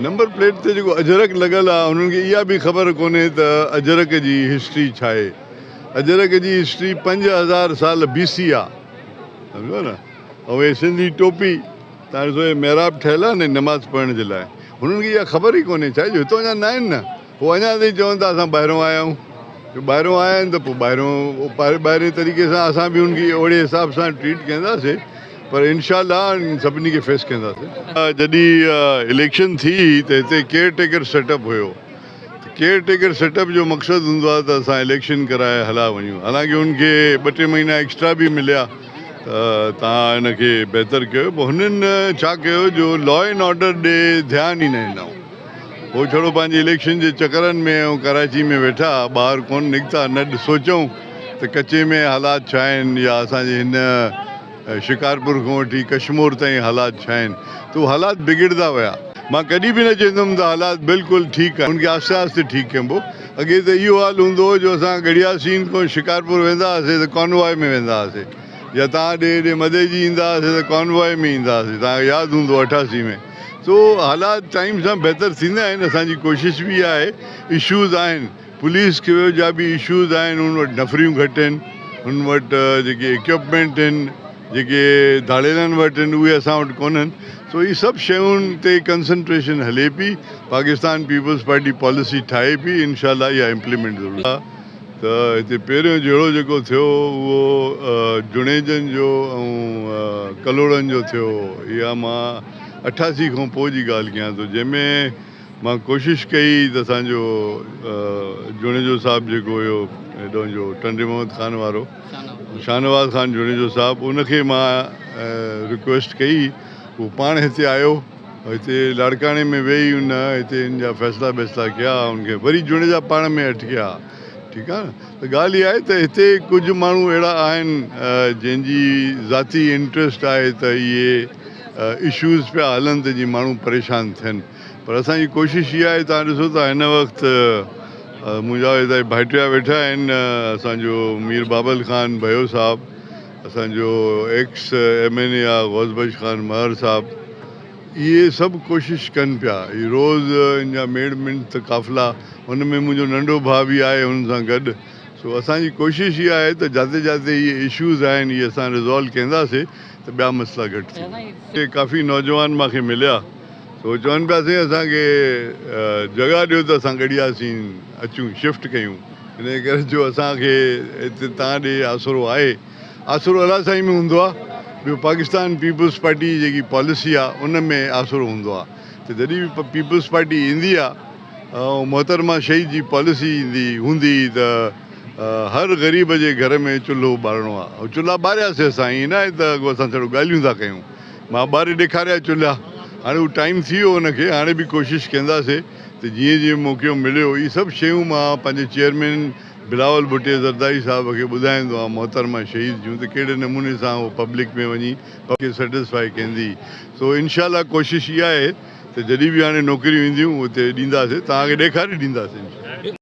Number plate تي جيڪو اجرڪ لڳل آ انهن کي اها به خبر ڪونهي ته اجرڪ جي هسٽري ڇا آهي. اجرڪ جي هسٽري پنج هزار سال بي سي آ سمجهو نه ۽ هي سنڌي ٽوپي تان ڏسو هي محراب ٺهيل آ نه نماز پڙهڻ جي لاء هنن کي اها خبر ئي ڪونهي ڇا جو هتان جا ناهن نه. هو اڃا تائين چون ٿا اسان ٻاهرون آيا آهيون جو ٻاهرون آيا آهن ته پوء ٻاهرون ٻاهرين طريقي سان اسان به ان کي اوڙي حساب سان ٽريٽ ڪنداسين پر انشاء الله انهن سڀني کي فيس ڪنداسين. جڏهن اليڪشن ٿي ته هتي ڪيئر ٽيڪر سيٽ اپ هيو ته ڪيئر ٽيڪر سيٽ اپ جو مقصد هوندو آهي ته اسان اليڪشن ڪرائي هليا وڃون حالانڪه ان کي ٻه ٽي مهينا ايڪسٽرا به مليا ته توهان ان کي بهتر ڪيو پر هنن ڇا ڪيو جو لا اينڊ آرڊر ڏي ڌيان ئي نه ڏنائون. هو ڇڙو پنهنجي اليڪشن جي چڪرن ۾ ۽ ڪراچي ۾ ويٺا ٻاهر ڪونه نڪتا، نه سوچيائون ته ڪچي ۾ حالات ڇا آهن يا اسان جي هن شڪارپور کان وٺي ڪشمور تائين حالات ڇا آهن ته اهي حالات بگڙندا ويا. مان ڪڏهن به نه چئندم ته حالات بلڪل ٺيڪ آهن، ان کي آهستي آهستي ٺيڪ ڪبو. اڳي ته اهو حال هوندو هو جو اسان ڳڙهيا سين کان شڪارپور ويندا هئاسين ته ڪانوائي ۾ ويندا هئاسين يا تان ڏي هيڏي مدئجي ايندا هئاسين ته ڪانوائي ۾ ايندا هئاسين، تان کي ياد هوندو اٺاسي ۾ سو حالات ٽائيم سان بهتر ٿيندا آهن اسان جي ڪوشش به اها آهي اشوز آهن پوليس کي جا به اشوز آهن ان وٽ نفريون گهٽ آهن ان وٽ جيڪي اڪيوپمينٽ آهن جيڪي ڌاڙيلن وٽ آهن اهي اسان وٽ ڪونهن سو هي سڀ شيون تي ڪنسنٽريشن هلي پئي پاڪستان پيپلز پارٽي پاليسي ٺاهي پئي انشاء الله اها امپليمينٽ ضرور ته هتي پهريون جهيڙو جيڪو ٿيو هو اهو جڻيجن جو ۽ ڪلهوڙن جو ٿيو هو. اها مان اٺاسي کان پوء جي ڳالهه ڪيان ٿو جنهن ۾ مان ڪوشش ڪئي ته اسان جو جڻيجو صاحب جيڪو هيو هيڏهون جو ٽنڊي محمد خان وارو شاهنواز خان جڻيجو صاحب ان کي مان رڪويسٽ ڪئي هو پاڻ هتي آيو هتي لاڙڪاڻي ۾ ويهي هن هتي هن جا فيصلا بيصلا ڪيا ان کي وري جوڻيجا پاڻ ۾ اٽڪيا ٺيڪ آهي نه ته ڳالهه اها آهي ته هتي ڪجهه ماڻهو اهڙا آهن جنهن جي ذاتي انٽريسٽ آهي ته اهي اشوز پيا هلن ته جي ماڻهو پريشان ٿين پر اسان جي ڪوشش اها آهي توهان ڏسو ته هن وقت منهنجا هتي ڀائٽيا ويٺا آهن اسان جو مير بابل خان ڀيو صاحب اسان جو ايڪس ايم اين اي آ غوث بخش خان مهر صاحب اهي سڀ ڪوشش ڪن پيا هي روز ان جا ميڙ منڊ ته قافلا ان ۾ منهنجو ننڍو ڀاء به آهي هن سان گڏ سو اسان جي ڪوشش اها آهي ته جاتي جاتي اهي اشوز آهن اهي اسان ريزالو ڪينداسي ته ٻيا مسئلا گهٽ ٿيندا. اتي ڪافي نوجوان مانکي مليا. سو چون پيا سائين اسان کي جڳهه ڏيو ته اسان ڳڙيا سين اچون شفٽ ڪيون انهي ڪري جو اسان کي هتي تان ڏي آسرو آهي آسرو الله سائين ۾ هوندو آ ٻيو پاڪستان پيپلز پارٽي جي جيڪي پاليسي آ ان ۾ آسرو هوندو آ ته جڏهن به پيپلز پارٽي ايندي آ ۽ محترمه شهيد جي پاليسي ايندي هوندي ته هر غريب جي گهر ۾ چلهو ٻارڻو آ ۽ چلها ٻارياسي اسان ائين ناهي ته اڳو اسان ڇڙو ڳالهيون ٿا ڪيون مان ٻاري ڏيکاريا چلها. هاڻي اهو ٽائيم ٿي ويو ان کي هاڻي به ڪوشش ڪنداسي ته جيئن جيئن موقعو مليو هي سڀ شيون مان پنهنجي چيئرمين بلاول ڀٽي زرداري صاحب کي ٻڌائيندو هان محترمه شهيد جون ته ڪهڙي نموني سان هو پبلڪ ۾ وڃي پبلڪ کي سيٽسفائي ڪندي سو انشاء الله ڪوشش اها آهي ته جڏهن به هاڻي نوڪريون اينديون اتي ڏينداسي توهان کي ڏيکاري ڏينداسي انشاء الله.